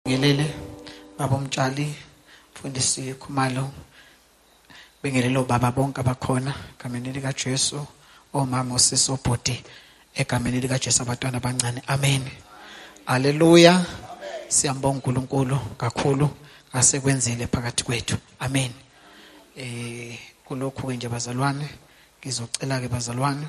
Ngelele baba umtshali mfundisi Khumalo bengelelo baba bonke abakhona egameni lika Jesu omama osisi obhuti egameni lika Jesu abantwana abancane amen haleluya siyambonga uNkulunkulu kakhulu asekwenzile phakathi kwethu amen eh kulokhu ke nje bazalwane ngizocela ke bazalwane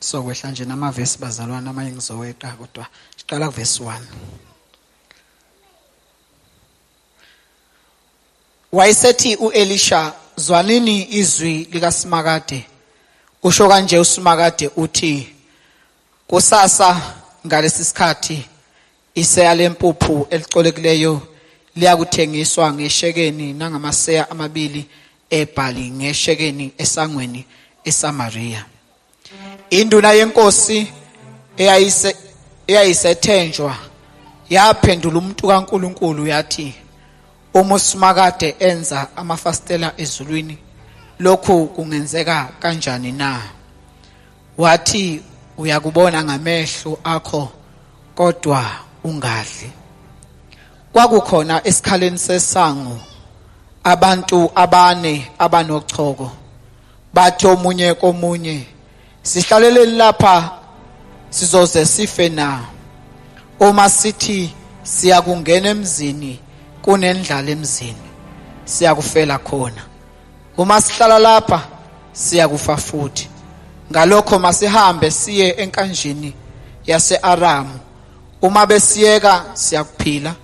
sokwehla nje namavesi bazalwana amanye ngizoweqa kodwa siqala kuvesi 1 wayesethi uElisha zwanini izwi likaSimakade usho kanje uSimakade uthi kusasa ngalesi sikhathi Iseya lempuphu elicolekileyo liyakuthengiswa ngeshekeni nangamaseya amabili ebhali ngeshekeni esangweni eSamariya. Induna yenkosi eyayise eyayisethenjwa yaphendula umuntu kaNkuluNkulu yathi uma uSimakade enza amafasitela ezulwini lokhu kungenzeka kanjani na? Wathi uyakubona ngamehlo akho kodwa ungadli. Kwakukhona esikhaleni sesango abantu abane abanochoko bathi omunye komunye sihlaleleni lapha sizoze sife na uma sithi siyakungena emzini kunendlala emzini siyakufela khona uma sihlala lapha siyakufa futhi ngalokho masihambe siye enkanjini yaseAramu uma besiyeka siyakuphila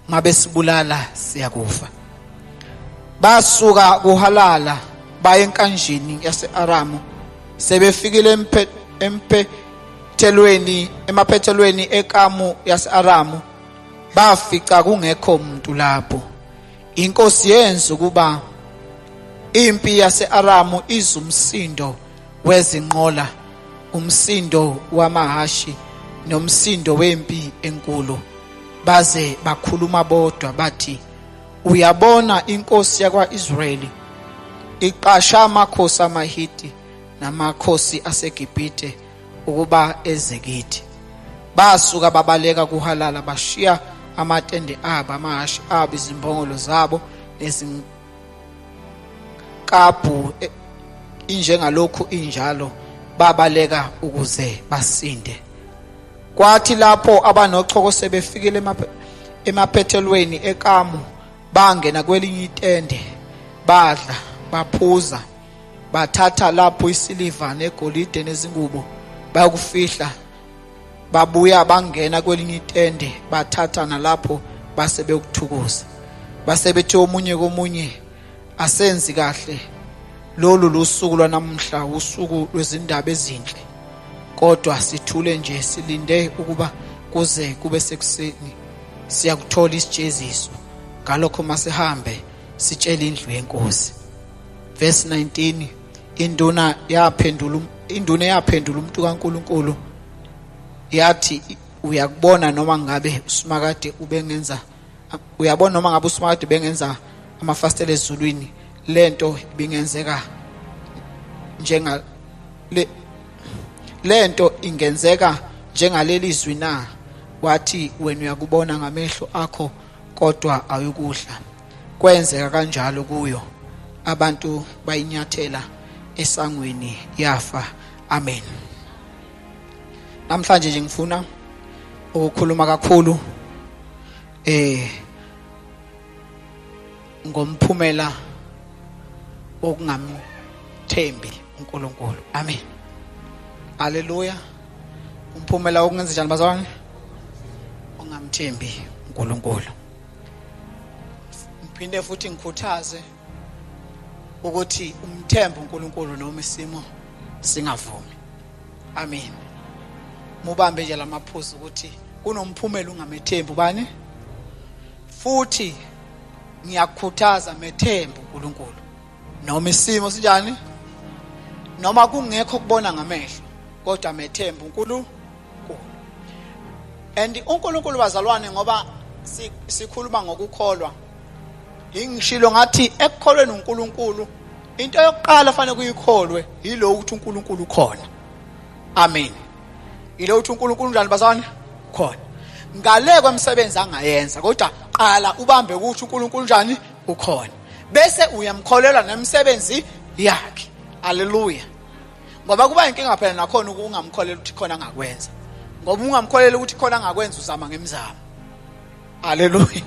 uma besibulala siyakufa basuka kuhalala baye enkanjini yaseAramu sebefikile emphe emphe thelweni emaphethelweni ekamu yaseAramu bafica kungekho muntu lapho Inkosi yenza ukuba impi yaseAramu izumsindo wezinqola, umsindo wamahashi nomsindo wempi enkulu. Baze bakhuluma bodwa bathi, Uyabona inkosi yakwaIsrayeli iqasha amakhosi amaHiti namakhosi aseGibhithe ukuba eze kithi basuka babaleka kuhalala bashiya amatende abo amahhashi abo izimbongolo zabo nezinkabhu e, injengalokhu injalo babaleka ukuze basinde kwathi lapho abanochoko sebefikile emaphethelweni ekamu bangena kwelinye itende badla baphuza bathatha lapho isiliva negolide nezingubo bayokufihla babuya bangena kwelinye itende bathatha nalapho base bekuthukuza base bethe omunye komunye asenzi kahle lolu lusuku lwanamhla usuku lwezindaba ezinhle kodwa sithule nje silinde ukuba kuze kube sekuseni siyakuthola isijeziso ngalokho masihambe sitshele indlu yenkosi verse 19 induna yaphendula um-, induna yaphendula umuntu kaNkuluNkulu yathi uyakubona noma ngabe usimakade ubengenza uyabona noma ngabe usimakade bengenza amafastela ezulwini lento ibingenzeka njenga le lento ingenzeka njengaleli zwi na wathi wena uyakubona ngamehlo akho kodwa ayukudla kwenzeka kanjalo kuyo abantu bayinyathela esangweni yafa amen namhlanje nje ngifuna ukukhuluma kakhulu eh ngomphumela okungamthembi uNkulunkulu amen haleluya umphumela wokungenza njani bazalwane ungamthembi uNkulunkulu ngiphinde futhi ngikhuthaze ukuthi umthembe uNkulunkulu noma isimo singavumi amen mubambe nje lamaphuzu ukuthi kunomphumela ungamethembi ubani futhi ngiyakukhuthaza methembe uNkulunkulu noma isimo sinjani noma kungekho kubona ngamehlo kodwa methembe uNkulunkulu and uNkulunkulu bazalwane ngoba sikhuluma ngokukholwa ingishilo ngathi ekukholweni uNkulunkulu into yokuqala fanele kuyikholwe yilo ukuthi uNkulunkulu ukhona amen yilo ukuthi uNkulunkulu unjani bazalwane khona ngale kwemsebenzi angayenza kodwa qala ubambe ukuthi uNkulunkulu unjani ukhona bese uyamkholelwa nemisebenzi yakhe haleluya ngoba kuba inkinga phela nakhona ukungamkholela ukuthi khona ngakwenza ngoba ungamkholela ukuthi khona ngakwenza uzama ngemizamo haleluya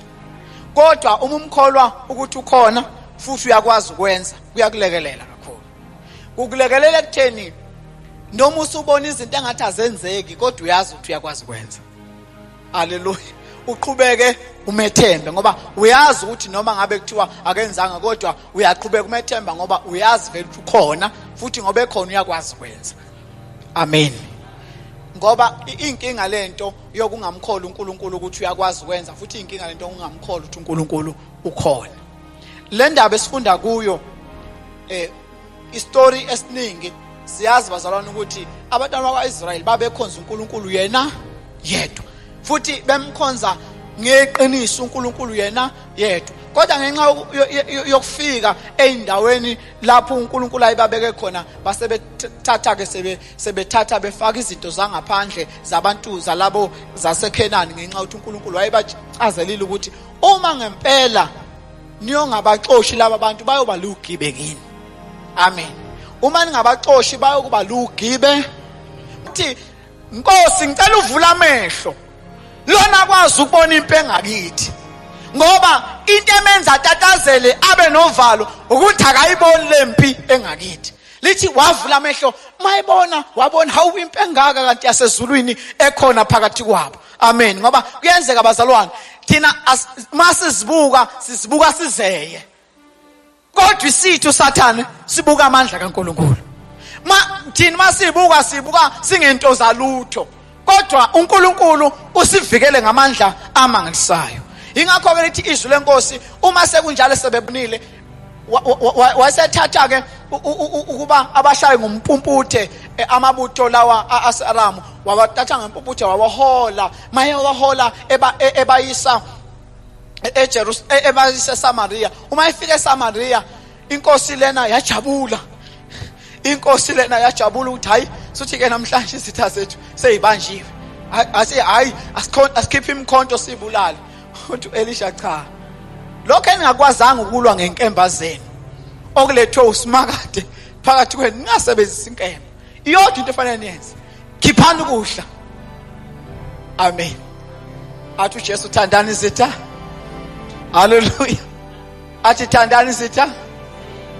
kodwa uma umkholwa ukuthi ukhona futhi uyakwazi ukwenza kuyakulekelela kakhulu kukulekelela ekutheni noma usubona izinto engathi azenzeki kodwa uyazi ukuthi uyakwazi ukwenza Haleluya. Uqhubeke umethembe ngoba uyazi ukuthi noma ngabe kuthiwa akenzanga kodwa uyaqhubeka umethemba ngoba uyazi vele ukuthi ukhona futhi ngoba ekhona uyakwazi kwenza. Amen. Ngoba inkinga lento yokungamkholi uNkulunkulu ukuthi uyakwazi kwenza futhi inkinga lento yokungamkholi ukuthi uNkulunkulu ukhona. Le ndaba esifunda kuyo eh istory esiningi siyazi bazalwane ukuthi abantwana bakwa-israyeli babekhonza unkulunkulu yena yedwa futhi bemkhonza ngeqiniso uNkulunkulu yena yedwa kodwa ngenxa yokufika eindaweni lapho uNkulunkulu ayibabeke khona base bethatha ke sebe sebethatha befaka izinto zangaphandle zabantu zalabo zaseKhenani ngenxa ukuthi uNkulunkulu wayebachazelile ukuthi uma ngempela niyongabaxoshi laba bantu bayoba lugibe kini amen uma ningabaxoshi bayokuba lugibe uthi nkosi ngicela uvula amehlo lona kwazi ukubona impi engakithi ngoba into emenza atatazele abe novalo ukuthi akayiboni lempi engakithi lithi wavula amehlo mayibona wabona hawu impi engaka kanti yasezulwini ekhona phakathi kwabo amen ngoba kuyenzeka bazalwane thina uma sizibuka sizibuka sizeye kodwa isithu sathane sibuka amandla kaNkuluNkulu ma thina masibuka sibuka singento zalutho kodwa uNkulunkulu usivikele ngamandla amangalisayo ingakho ke lithi izwi lenkosi uma sekunjalo sebebonile wasethatha ke ukuba abashaye ngompumputhe eh, amabutho lawa aseAramu wabathatha ngempumputhe wawahola maye wahola e-, ebayisa eJerusalem e-, ebayisa eSamaria uma efika eSamaria inkosi lena yajabula inkosi lena yajabula ukuthi hayi sothi ke namhlanje izitha zethu seyibanjiwe ase hayi asikhiphe imkhonto sibulale uthi Elisha cha lokho eningakwazanga ukulwa ngenkemba zenu okulethwe usimakade phakathi kwenu ningasebenzisa inkemba iyodwa into efanele niyenze khiphani ukudla amen athi uJesu thandani izitha haleluya athi thandani sitha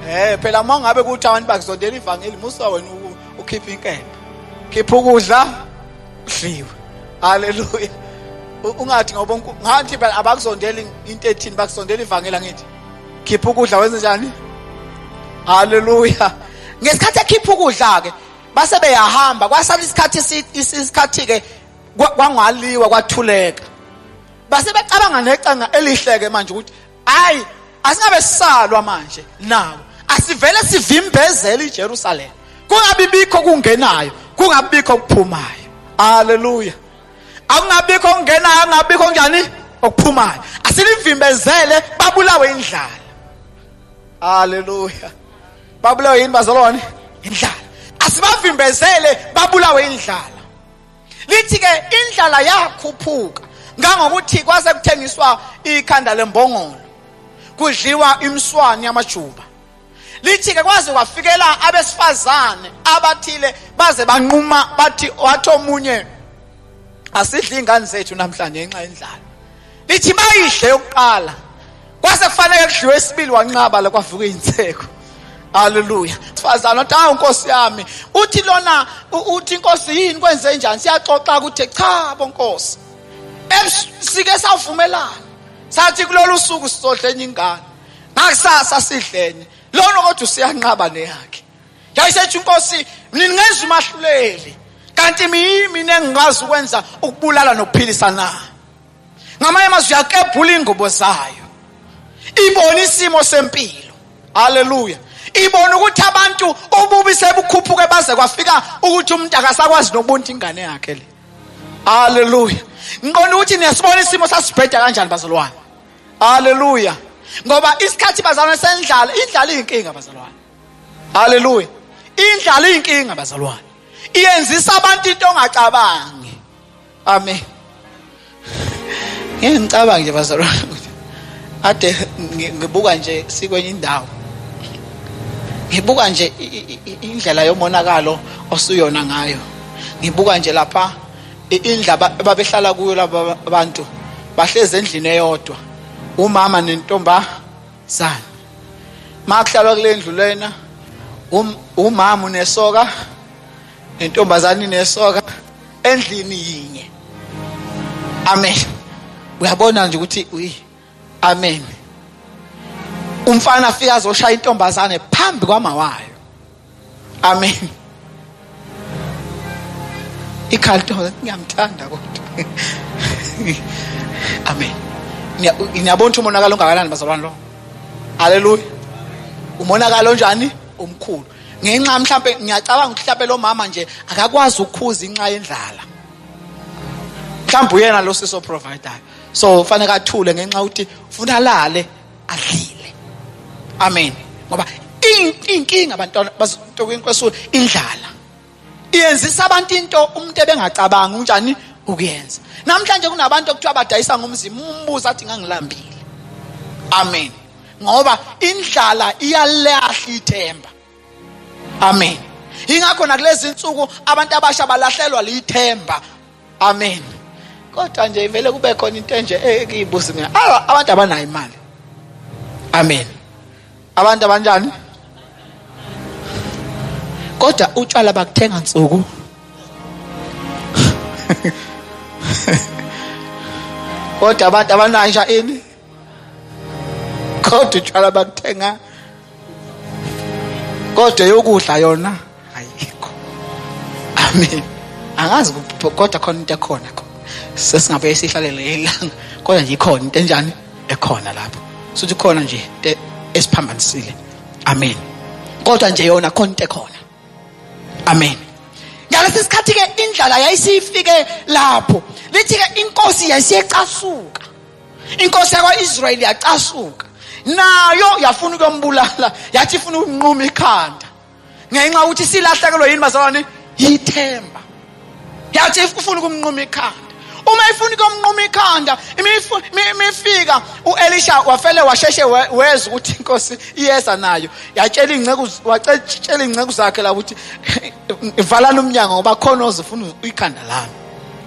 eh phela uma ngabe kuthi abantu bakuzondela ivangeli musa wena ukhipha inkemba khipha ukudla udliwe haleluya ungathi ngoba ngathi phela abakuzondela into ethini bakuzondela ivangeli angithi khipha ukudla wenze njani haleluya ngesikhathi ekhipha ukudla ke base beyahamba kwasala isikhathi isikhathi ke kwangaliwa kwathuleka base becabanga necanga elihleke manje ukuthi hayi asingabe sisalwa manje nawo asivele sivimbezele iJerusalem kungabibikho kungenayo kungabikho kuphumayo haleluya akungabikho kungenayo angabikho njani okuphumayo asilivimbezele babulawe indlala haleluya babulawe yini bazalwane indlala asibavimbezele babulawe indlala lithi ke indlala yakhuphuka ngangokuthi kwase kuthengiswa ikhanda lembongolo kudliwa imswani yamajuba lithi ke kwaze kwafikela abesifazane abathile baze banquma bathi wathi omunye asidli ingane zethu namhlanje ngenxa yendlala lithi bayidle yokuqala kwase kufanele kudliwe isibili wanqaba la kwavuka izinseko Haleluya. Sifazana uthi awu Nkosi yami, uthi lona uthi Nkosi yini kwenze njani? Siyaxoxa ukuthi cha bo Nkosi. Sike savumelana. Sathi kulolu suku sizodla enye ingane. Ngakusasa sidlene. Lona kodwa usiyanqaba neyakhe. Yayisethi Nkosi, mina ngenza umahluleli. Kanti mina mina engikwazi ukwenza ukubulala nokuphilisa na. ngamanye amazwi yakebhula ingubo zayo ibona isimo sempilo haleluya ibona ukuthi abantu ububi sebukhuphuke baze kwafika ukuthi umuntu akasakwazi nokubunta ingane yakhe le haleluya ngiqonda ukuthi niyasibona isimo sasibheda kanjani bazalwane haleluya ngoba isikhathi bazalwane sendlala indlala iyinkinga bazalwane haleluya indlala iyinkinga bazalwane iyenzisa abantu into ongacabangi Amen. Ngeke ngicabanga nje bazalwane ukuthi ade ngibuka nje sikwenye indawo. Ngibuka nje indlela yomonakalo osuyona ngayo. Ngibuka nje lapha indla babehlala kuyo laba bantu bahlezi endlini eyodwa umama nentombazana makuhlalwa kule ndlu lena um, umama unesoka nentombazane nesoka endlini yinye amen uyabona nje ukuthi uyi amen umfana afika azoshaya intombazane phambi kwamawayo amen ikhaya lentombazane ngiyamthanda kodwa amen ngiyabona ukuthi umonakalo ongakanani bazalwane lo haleluya umonakalo onjani omkhulu ngenxa mhlampe ngiyacabanga ukuthi mhlampe lo mama nje akakwazi ukukhuza inxa yendlala mhlawumbe uyena lo siso provider so fanele athule ngenxa ukuthi ufuna alale adlile amen ngoba inkinga abantwana bazokunkosula indlala iyenzisa abantu into umuntu ebengacabangi unjani ukuyenza namhlanje kunabantu okuthiwa badayisa ngomzimba umbuza athi ngangilambile amen ngoba indlala iyalahla ithemba amen ingakho nakulezi nsuku abantu abasha balahlelwa lithemba amen kodwa nje ivele kube khona into enje ekiyibuza mina abantu abanayo imali amen abantu abanjani kodwa utshwala bakuthenga nsuku kodwa abantu abanayisha ini kodwa utshwala bakuthenga kodwa yokudla yona ayikho amen angazi kodwa khona into ekhona kho sesingabe sihlalele ilanga kodwa nje ikhona into enjani ekhona lapho sothi khona nje into esiphambanisile amen kodwa nje yona khona into ekhona amen ngalesi sikhathi ke indlala yayisifike lapho lithi ke inkosi yayisiyecasuka inkosi yakwa-israyeli yacasuka nayo yafuna ukuyombulala yathi ifuna ukunquma ikhanda ngenxa ukuthi silahlekelwe yini bazalwane yithemba yathi ifuna ukumnquma ikhanda uma ifuna ukumnquma ikhanda imifika uelisha wafele washeshe weza ukuthi inkosi iyeza nayo yatshela iy'nceku watshela iy'nceku zakhe la ukuthi valani umnyango ngoba khona ozifuna ikhanda lami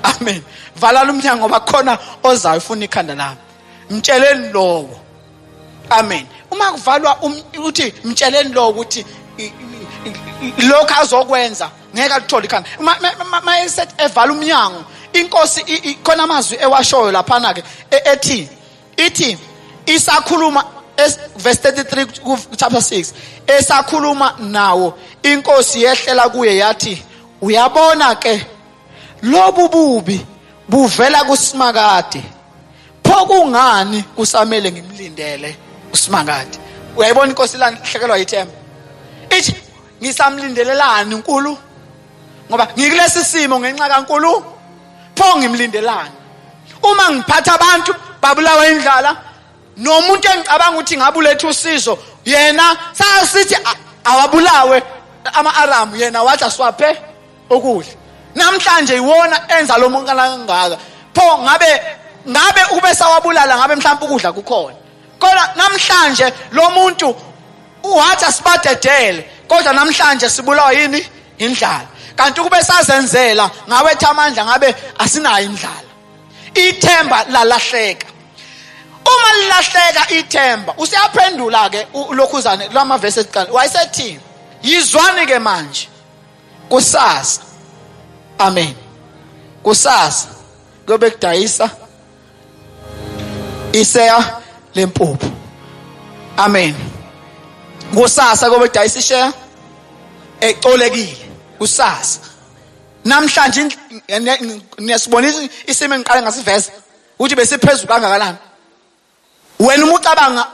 amen valala umnyango ngoba khona ozayo ufuna ikhanda lami mtsheleni lowo amen uma kuvalwa um, uthi mtsheleni lowo ukuthi lokho azokwenza ngeke alithole ikhanda uma esethi evala umnyango inkosi khona amazwi ewashoyo laphana ke e, ethi ithi isakhuluma verse 33 ku chapter 6 esakhuluma nawo inkosi yehlela kuye yathi uyabona ke Lobu bubi buvela kuSimakade. Pho kungani kusamele ngimlindele uSimakade? Uyayibona inkosi lanhlekelwa yithemba. Ithi ngisamlindelelani uNkulu? Ngoba ngikulesi simo ngenxa kaNkulu. Pho ngimlindelani? Uma ngiphatha abantu babulawa indlala nomuntu engicabanga ukuthi ngabuletha usizo yena sasithi awabulawe ama-aramu yena wathi asiwaphe okuhle namhlanje yiwona enza lo muntu kangaka pho ngabe ngabe ube sawabulala ngabe mhlawumbe ukudla kukhona kodwa namhlanje lo muntu uhathi asibadedele kodwa namhlanje sibulawa yini indlala kanti ukube sazenzela ngabe ethi amandla ngabe asinayo indlala ithemba lalahleka uma lilahleka ithemba useyaphendula ke lokhuzane lwamavesi ekuqala wayesethini yizwani ke manje kusasa amen kusasa kuyobe kudayisa iseya lempuphu amen kusasa kuyobe kudayisa isheya ecolekile kusasa namhlanje niyasibona isimo engiqale ngasiveza ukuthi besiphezulu kangakanani wena uma ucabanga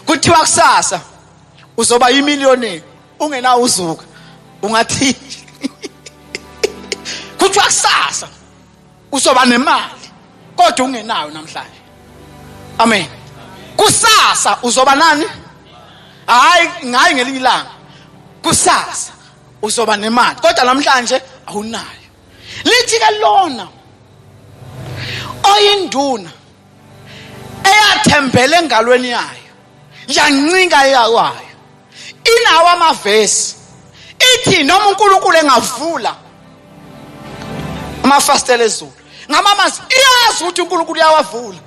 kuthiwa kusasa uzoba yimillionaire ungenawo uzuka ungathi kuthiwa kusasa uzoba nemali kodwa ungenayo namhlanje amen kusasa uzoba nani hayi ngayi ngelinye ilanga kusasa uzoba nemali kodwa namhlanje awunayo lithi ke lona oyinduna eyathembele engalweni yayo yancinga yakwayo inawo amavesi ithi noma uNkulunkulu engavula amafastela ezulu ngamamazi iyazi ukuthi uNkulunkulu uyawavula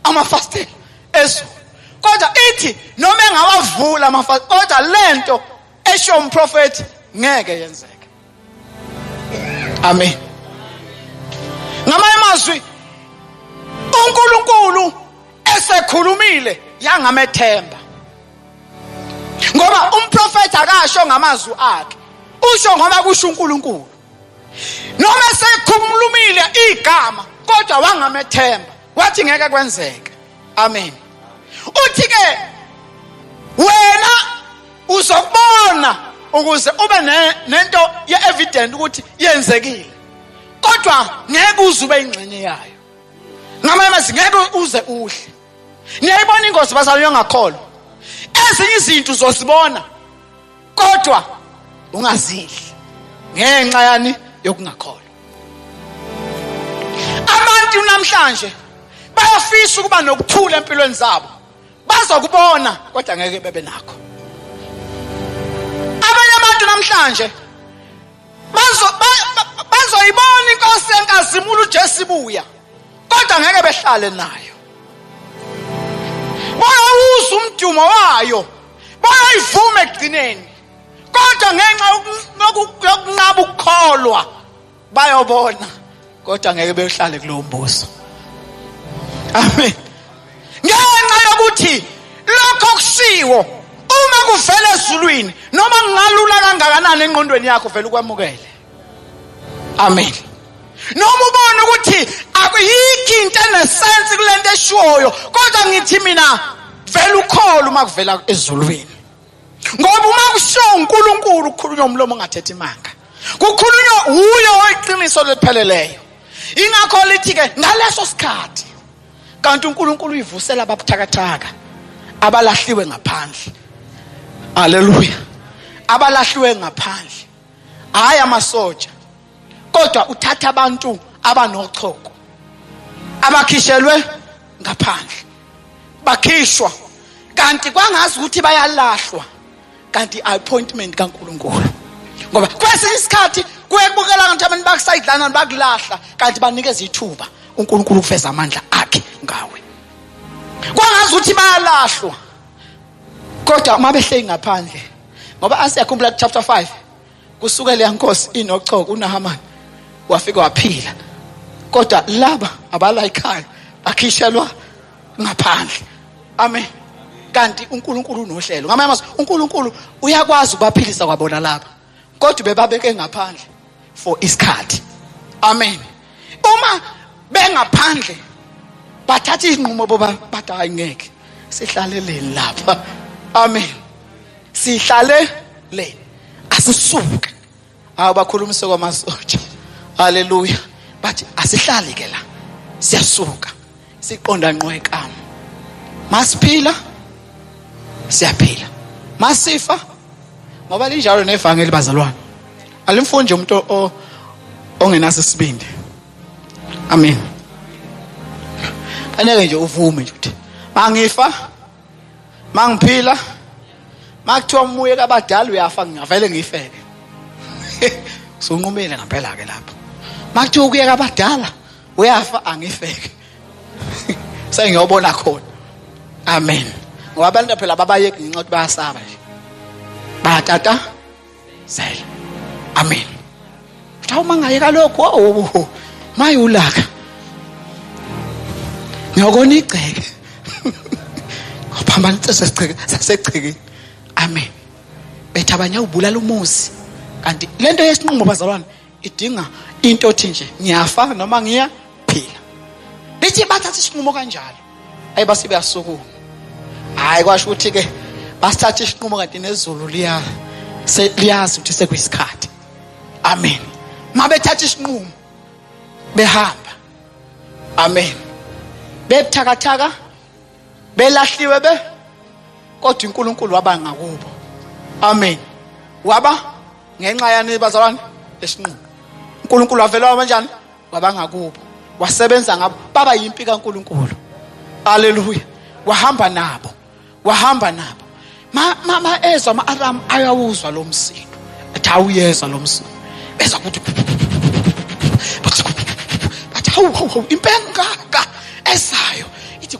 amafastela ezulu kodwa ithi noma engawavula amafastela kodwa lento esho umprofeti ngeke yenzeke amen ngamanye amazwi uNkulunkulu esekhulumile yangamethemba ngoba umprofeti akasho ngamazwi akhe usho ngoba kusho uNkulunkulu noma sekhulumile igama kodwa wangamethemba wathi ngeke kwenzeke amen uthi ke wena uzokubona ukuze ube nento ye-evident ukuthi yenzekile kodwa ngeke uze ube ingxenye yayo ngamanye amazwi ngeke uze uhle niyayibona ingozi bazalwane yongakholwa ezinye izinto uzozibona kodwa ungazidli ngenxa yani yokungakholwa abantu namhlanje bayafisa ukuba nokuthula empilweni zabo bazokubona kodwa ngeke bebe nakho abanye abantu namhlanje bazo bazoyibona inkosi enkazimula uJesu ibuya kodwa ngeke behlale nayo bayawuza umdumo wayo bayayivume ekugcineni kodwa ngenxa yokunqaba ukukholwa bayobona kodwa ngeke beyohlale kulowo mbuso amen ngenxa yokuthi lokho kushiwo uma kuvela ezulwini noma kungalula kangakanani enqondweni yakho vele ukwamukele amen noma ubona ukuthi akuyikho into enesense kule nto eshiwoyo kodwa ngithi mina vele ukholo uma kuvela ezulwini ngoba uma kushiwo unkulunkulu kukhulunywa umlomo ongathethi imanga kukhulunywa wuyo oyiqiniso lipheleleyo ingakho lithi-ke ngaleso sikhathi kanti unkulunkulu uyivusela ababuthakathaka abalahliwe ngaphandle aleluya abalahliwe ngaphandle hhayi amasotsha kodwa uthatha abantu abanochoko abakhishelwe ngaphandle bakhishwa kanti kwangazi ukuthi bayalahlwa kanti appointment kaNkuluNkulu ngoba kwesinye isikhathi kuyekubukela kanti abantu bakusayidlana bakulahla kanti banikeza ithuba uNkulunkulu ukuveza amandla akhe ngawe kwangazi ukuthi bayalahlwa kodwa uma behleli ngaphandle ngoba asikhumbula chapter 5 kusuke leya nkosi inocoko unahamani wafika waphila kodwa laba abalayikhayo bakhishelwa ngaphandle amen kanti uNkulunkulu unohlelo ngamanye amazwi uNkulunkulu uyakwazi ukubaphilisa kwabona laba kodwa bebabeke ngaphandle for isikhathi amen uma bengaphandle bathatha izinqumo boba bathi hayi ngeke sihlaleleni lapha amen sihlale le asisuke hawu bakhulumise kwamasotsha haleluya bathi asihlali ke la siyasuka siqonda nqwekamo masiphila siyaphila masifa ngoba linjalo nevangeli bazalwane alimfundi nje umuntu ongenaso isibindi amen aneke nje uvume nje ukuthi mangifa mangiphila makuthiwa umuye kabadala uyafa ngingavele ngifeke sunqumile ngampela ke lapho makuthiwa ukuyeka abadala uyafa angifeke sengiyobona khona amen ngoba abantu phela babayeki ngenxa ukuthi bayasaba nje bayatata zela amen kuthiwa uma ngayeka lokhu owo maye ulaka ngiyokona igceke phambana icese sigceke sasegcekeni amen bethi abanye ubulala umuzi kanti lento yesinqumo bazalwane idinga into othi nje ngiyafa noma ngiya phila lithi bathatha isinqumo kanjalo ayi base beyasukuma hayi kwasho ukuthi ke basithatha isinqumo kanti nezulu liya liyazi ukuthi sekuyisikhathi amen mabethatha isinqumo behamba amen bebuthakathaka belahliwe be kodwa uNkulunkulu waba ngakubo amen waba ngenxa yani bazalwane esinqulu uNkulunkulu wavela wabanjani waba ngakubo wasebenza ngabo baba yimpi kaNkulunkulu haleluya wahamba nabo wahamba nabo ma ma ma ezwa ama alarm ayawuzwa lo msindo athi awuyezwa lo msindo beza kuthi bathi bathi hawu hawu impengaka ezayo ithi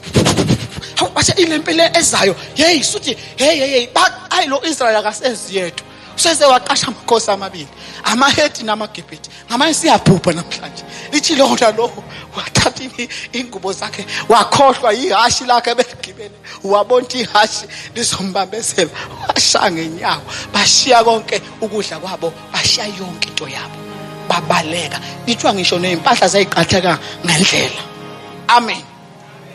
hawu bathi ilempele ezayo hey suthi hey hey hey ayi lo Israel akasezi yedwa useze waqasha amakhosi amabili amahedi namagibhidi ngamanye siyabhubha namhlanje lithi lona lokho wathatha ingubo zakhe wakhohlwa yihashi lakhe ebeligibele wabona ihashi lizombambezela washaya ngenyawo bashiya konke ukudla kwabo bashiya yonke into yabo babaleka ithiwa ngisho nezimpahla zayiqatheka ngendlela amen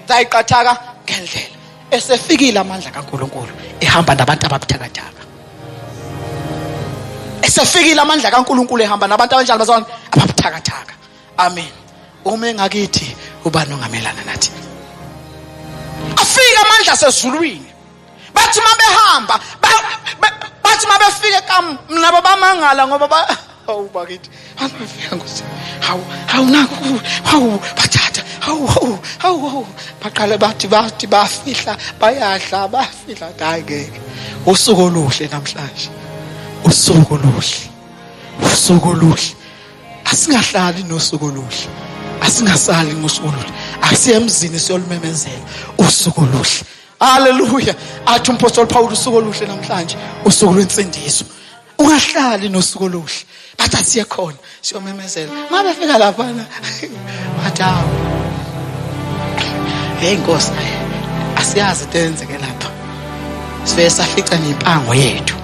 zayiqathaka ngendlela esefikile amandla kaNkuluNkulu ehamba nabantu ababuthakathaka esefikile amandla kaNkuluNkulu ehamba nabantu abanjalo bazalwane ababuthakathaka amen uma engakithi ubani ongamelana nathi afika amandla sezulwini bathi uma behamba bathi uma befike kamnabo bamangala ngoba hawu bakithi angafika nkosi hawu hawu naku hawu bathatha hawu hawu hawu hawu baqale bathi bathi bafihla bayadla bafihla hayi ngeke usuku oluhle namhlanje usuku oluhle usuku oluhle asingahlali nosuku oluhle asingasali ngosuku oluhle asiye emzini siyolumemezela usuku oluhle haleluya athi umpostoli pawulu usuku oluhle namhlanje usuku lwensindiso ungahlali nosuku oluhle bathi asiye khona siyomemezela uma befika laphana bathi hawu heyi nkosi asiyazi into eyenzeke lapha sibe safica nempango yethu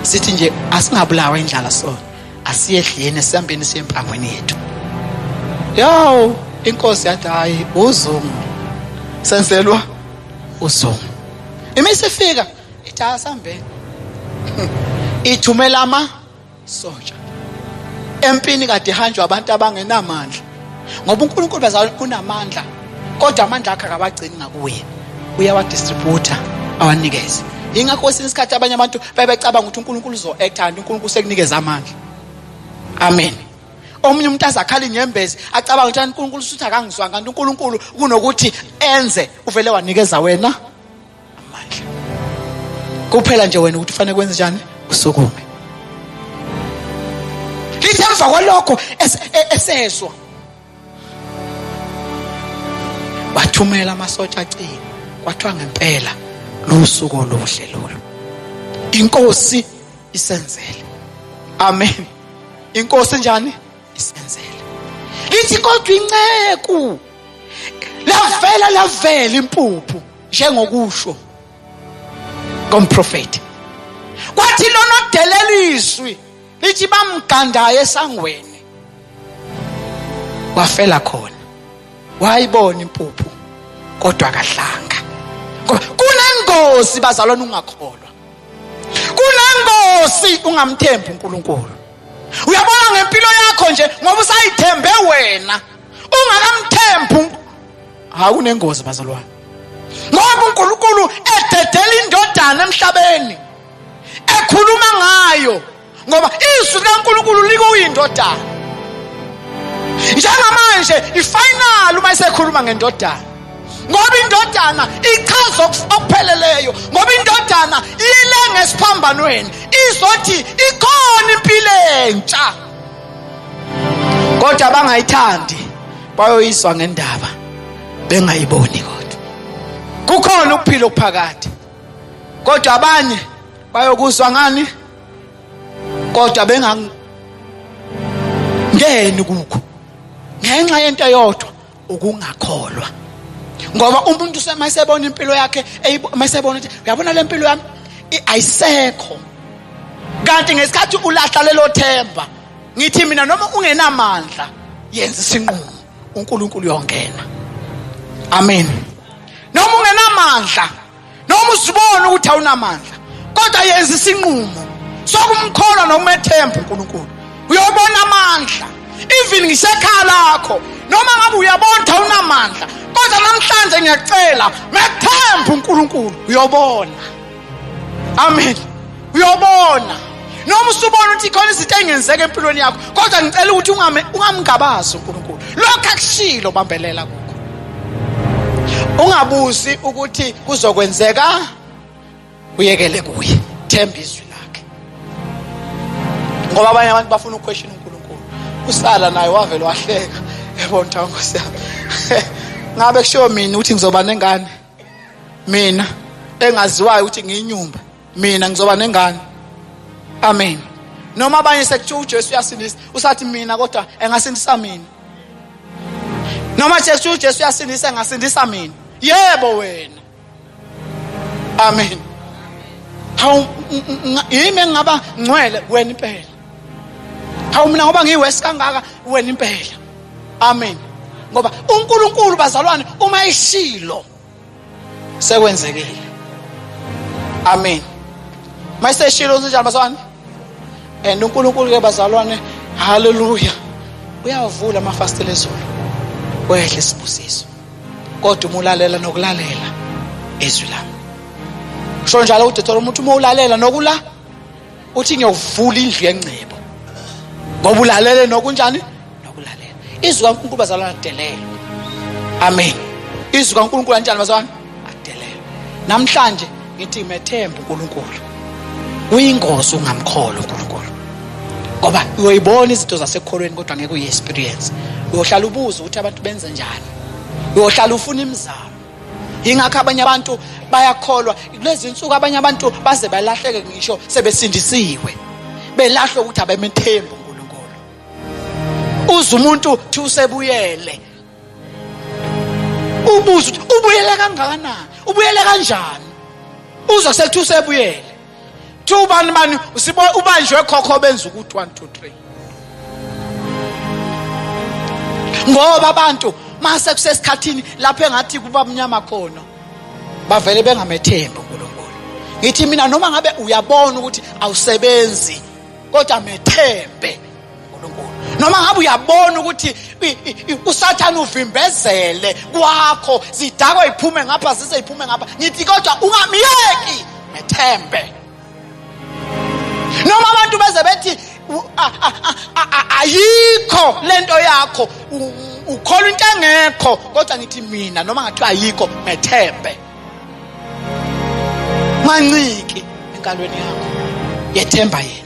sithi nje asingabulawa indlala sona asiyedleni sihambeni siye empangweni yethu yo inkosi yathi hayi uzungu senzelwa uzungu imisifika ithi asambeni ithumela ama soja empini kade hanjwa abantu abangenamandla ngoba uNkulunkulu bazalwane unamandla kodwa amandla akhe akabagcini ngakuye uyawadistributha awanikeze ingakho kwesinye isikhathi abanye abantu bebecabanga ukuthi uNkulunkulu uzo-acta kanti uNkulunkulu sekunikeza amandla amen omunye umuntu azakhala inyembezi acabanga ukuthi uNkulunkulu usuthi akangizwanga kanti uNkulunkulu kunokuthi enze uvele wanikeza wena amandla kuphela nje wena ukuthi ufanele kwenze njani usukume lithi emva kwalokho e-, esezwa wathumela amasotsha acini kwathiwa ngempela lusuku oluhle lolu inkosi isenzele amen inkosi njani isenzele lithi kodwa inceku lavela lavela impuphu njengokusho komprofeti kwathi lona odeleliswi lithi bamgandayo esangweni wafela khona wayibona impuphu kodwa kahlanga ngoba kunengozi bazalwana ungakholwa kunengozi ungamthembi uNkulunkulu uyabona ngempilo yakho nje ngoba usayithembe wena ungakamthembi hawu kunengozi bazalwane ngoba uNkulunkulu ededela indodana emhlabeni ekhuluma ngayo ngoba izwi likaNkulunkulu likuyindodana njengamanje ifinal uma isekhuluma ngendodana ngoba indodana ichaza okupheleleyo ngoba indodana ile ngesiphambanweni izothi ikhona impilo entsha kodwa abangayithandi bayoyiswa ngendaba bengayiboni kodwa kukhona ukuphila okuphakade kodwa abanye bayokuzwa ngani kodwa bengangeni kukho ngenxa yento eyodwa ukungakholwa ngoba umuntu uma esebona impilo yakhe uma esebona ukuthi uyabona le mpilo yami ayisekho kanti ngesikhathi ulahla lelo themba ngithi mina noma ungenamandla yenza isinqumo uNkulunkulu uyongena amen noma ungenamandla noma uzibona ukuthi awunamandla kodwa yenza isinqumo sokumkholwa nokumethemba uNkulunkulu uyobona amandla even ngisekhaya lakho noma ngabe uyabona ukuthi awunamandla kodwa namhlanje ngiyacela methemba uNkulunkulu uyobona amen uyobona noma usubona ukuthi khona izinto engenzeka empilweni yakho kodwa ngicela ukuthi ungamngabazi unkulunkulu lokhu akushilo bambelela kukho ungabuzi ukuthi kuzokwenzeka uyekele kuye themba izwi lakhe ngoba abanye abantu bafuna ukweshina unkulunkulu usala naye wavele wahleka yabona ukuthi nkosi yami ngabe kushiwo mina ukuthi ngizoba nengane mina engaziwayo ukuthi ngiyinyumba mina ngizoba nengane amen noma abanye sekuthiwa uJesu uyasindisa usathi mina kodwa engasindisa mina noma Jesu uJesu uyasindisa engasindisa mina yebo wena amen hawu yimi engaba ngcwele wena impela hawu mina ngoba ngiyiwesi kangaka wena impela amen ngoba uNkulunkulu bazalwane uma eshilo sekwenzekile amen mayiseshilo usinjalo bazalwane and uNkulunkulu ke bazalwane haleluya uyavula amafastela ezulu wehle isibusiso kodwa uma ulalela nokulalela izwi lami kusho njalo udethora umuntu uma ulalela nokula uthi ngiyovula indlu yengcebo ngoba ulalele nokunjani nokulalela izwi kaNkulunkulu bazalwana delela amen izwi kaNkulunkulu anjani bazalwana adelela namhlanje ngithi methemba uNkulunkulu uyingozi ungamkholo uNkulunkulu ngoba uyoyibona izinto zasekholweni kodwa ngeke uyi-experience uyohlala ubuze ukuthi abantu benze njani uyohlala ufuna imizamo yingakho abanye abantu bayakholwa kulezi nsuku abanye abantu baze balahleke ngisho sebesindisiwe belahlwe ukuthi abemethembu uNkulunkulu uze umuntu thi usebuyele ubuza ukuthi ubuyele kangakanani ubuyele kanjani uza sekuthiwa usebuyele Thi ubani mani usibo ubanjwe khokho benza ukuthi 1 2 3. Ngoba abantu mase kusesikhathini lapho engathi kuba mnyama khona bavele bengamethembi uNkulunkulu. Ngithi mina noma ngabe uyabona ukuthi awusebenzi kodwa methembe noma ngabe uyabona ukuthi usathane uvimbezele kwakho zidakwa iphume ngapha zize iphume ngapha ngithi kodwa ungamyeki ngethembe noma abantu beze bethi ayikho lento yakho ukholwa into engekho kodwa ngithi mina noma ngathiwa ayikho ngethembe manciki enkalweni yakho yethemba yena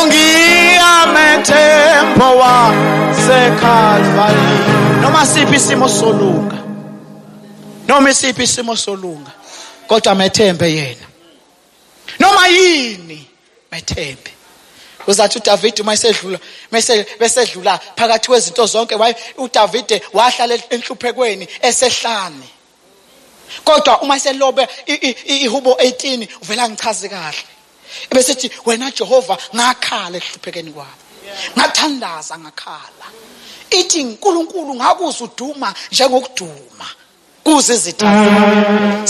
ungiyamethembo wasekalvari noma siphi isimo solunga noma isiphi isimo solunga kodwa methembe yena noma yini methembe uzathi uDavide uma esedlula mase besedlula phakathi kwezinto zonke waye uDavide wahlala enhluphekweni esehlane kodwa uma selobe ihubo 18 uvela ngichaze kahle ebesithi wena Jehova ngakhala ehluphekeni kwami ngathandaza ngakhala ithi uNkulunkulu ngakuzwa uduma njengokuduma kuze izitha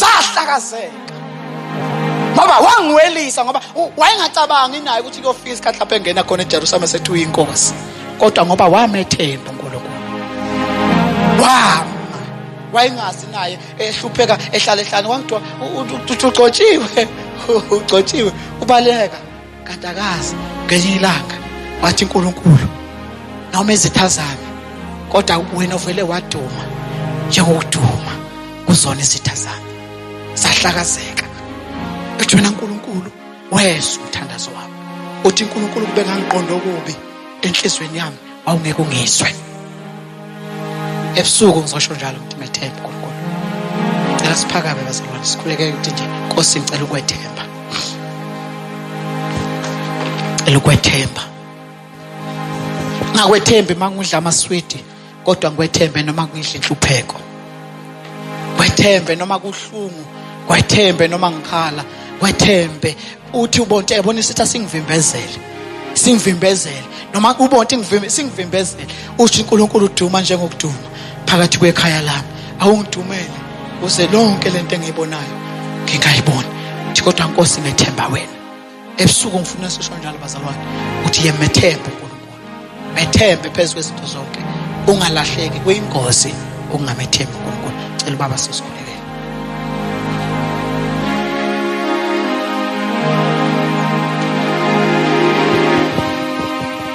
zahlakazeka ngoba wangiwelisa ngoba wayengacabangi naye ukuthi kuyofika isikhathi lapho engena khona eJerusalem esethi uyinkosi kodwa ngoba wamethemba uNkulunkulu wama wayengazi naye ehlupheka ehlala ehlane kwakuthiwa ugcotshiwe ugcotshiwe ubaleka kanti akazi ngenye ilanga wathi unkulunkulu noma izitha zami kodwa wena uvele waduma njengokuduma kuzona izitha zami sahlakazeka ethi wena nkulunkulu wezwa umthandazo wami uthi unkulunkulu kube ngangiqonda okubi enhliziyweni yami wawungeke ungizwe ebusuku ngizosho njalo ukuthi methembe uNkulunkulu cela siphakame bazalwane sikhuleke ukuthi nje Nkosi ngicela ukwethemba cela ukwethemba ngakwethembi mangidla amaswidi kodwa ngikwethembe noma ngidla inhlupheko kwethembe noma kuhlungu kwethembe noma ngikhala kwethembe uthi ubonte yabona isithi asingivimbezele singivimbezele noma ubonte singivimbezele usho uNkulunkulu uduma njengokuduma phakathi kwekhaya lami awungidumele uze lonke lento engiyibonayo ngingayiboni uthi kodwa nkosi ngethemba wena ebusuku ngifuna sisho njalo bazalwane uthi yemethemba methembe phezu kwezinto zonke ungalahleki kuyingozi ukungamethembi uNkulunkulu cela ubaba sisikhuleke